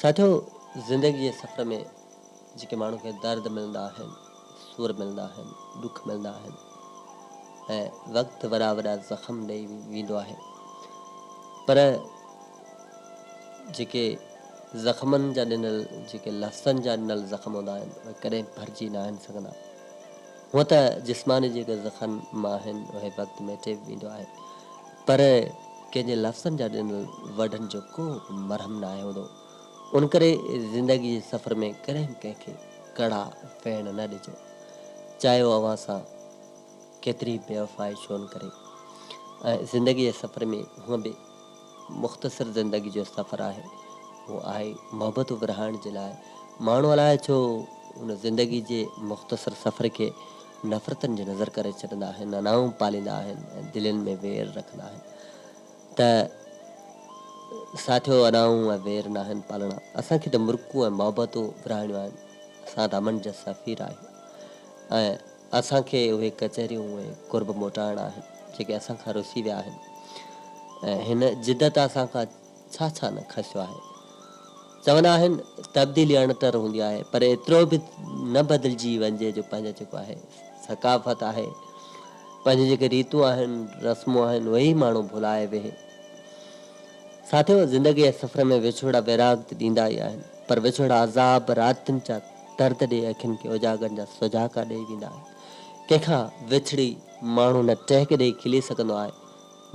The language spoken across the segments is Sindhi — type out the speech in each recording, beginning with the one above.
ساٿيو زندگي جي سفر ۾ جيڪي ماڻهو کي درد ملندا آهن، سور ملندا آهن، ڏک ملندا آهن ۽ وقت وڏا وڏا زخم ڏئي ويندو آهي پر جيڪي زخمن جا ڏنل جيڪي لفظن جا ڏنل زخم هوندا آهن اهي ڪڏهن ڀرجي ناهن سگهندا. هونء ته جسماني جيڪي زخن م آهن اهي وقت ميٽي ويندو آهي. پر ڪنهن جي لفظن جا ڏنل وڍن جو ڪو به مرهم ناهي هوندو، ان ڪري زندگي جي سفر ۾ ڪڏهن به ڪنهن کي ڪڙا ويڻ نه ڏجو، چاهي هو اوهان سان ڪيتري بي وفائي ڇو نه ڪري. ۽ زندگي جي سفر ۾ هونء به مختصر زندگي جو سفر آهي، اهو آهي محبتون ورهائڻ جي لاء. ماڻهو الاء ڇو ان زندگي جي مختصر سفر کي نفرتن جي نظر ڪري ڇڏندا آهن، ننائون پاليندا آهن ۽ دلين ۾ وير رکندا آهن ته ساٿيو انائون ۽ وير ناهن پالڻا، اسان کي ته مرڪون ۽ محبتون ورهائڻيون آهن، اسان رامن جا سفير آهيون ۽ اسان کي اهي ڪچهريون ۽ قرب موٽائڻا آهن جيڪي اسان کان رسي ويا آهن ۽ هن جدت اسان کان ڇا ڇا نه کسيو آهي. چوندا آهن تبديلي اڻتر هوندي آهي پر ايترو به نه بدلجي وڃجي جو پنهنجا جيڪو آهي ثقافت آهي پنهنجون جيڪي ريتون آهن رسمون آهن اهي ئي ماڻهو ڀلائي ويهي. ساٿيو زندگي جي سفر ۾ وڇوڙا ويراڳ ته ڏيندا ئي آهن پر وڇوڙا عذاب راتين جا درد ڏئي اکين کي اجاڳن جا سجهاڪا ڏئي ويندا آهن ڪنهن کان وڇڙي ماڻهو نه ٽهڪ ڏئي کلي سگهندو آهي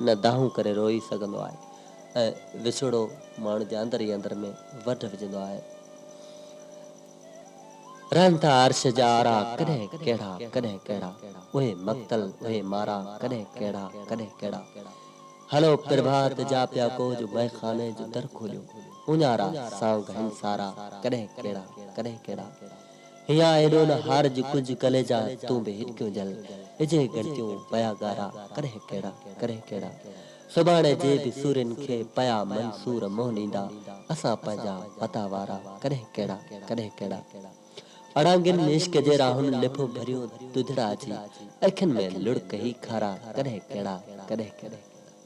نه دانهون ڪري روئي سگهندو آهي ۽ وڇوڙو ماڻهن جي اندر ئي اندر ۾ وڍ وجهندو آهي. رهن ٿا عرش جا آرا ڪڏهن ڪهڙا ڪڏهن ڪهڙا، اهي مقتل اهي مارا ڪڏهن ڪهڙا ڪڏهن ڪهڙا. هلو پرڀات جا پيا ڪوهه جو مئخاني جو در کوليو، اونهارا سانگ هن سارا ڪڏهن ڪهڙا ڪڏهن ڪهڙا. هيا هيڏو نه هارج ڪج ڪليجا تون به هٽڪيون جل ڏجي ڳڻتيون پيا ڳارا ڪرهه ڪهڙا ڪرهه ڪهڙا سڀاڻي جي به سورين کي پيا منصور منهن ڏيندا اسان پنهنجا پتا وارا ڪرهه ڪهڙا ڪرهه ڪهڙا اڙانگين ۾ عشق جي راهون لڦو ڀريون دودڙا جي اکين ۾ لڙڪ هي کارا ڪرهه ڪهڙا ڪرهه ڪهڙا.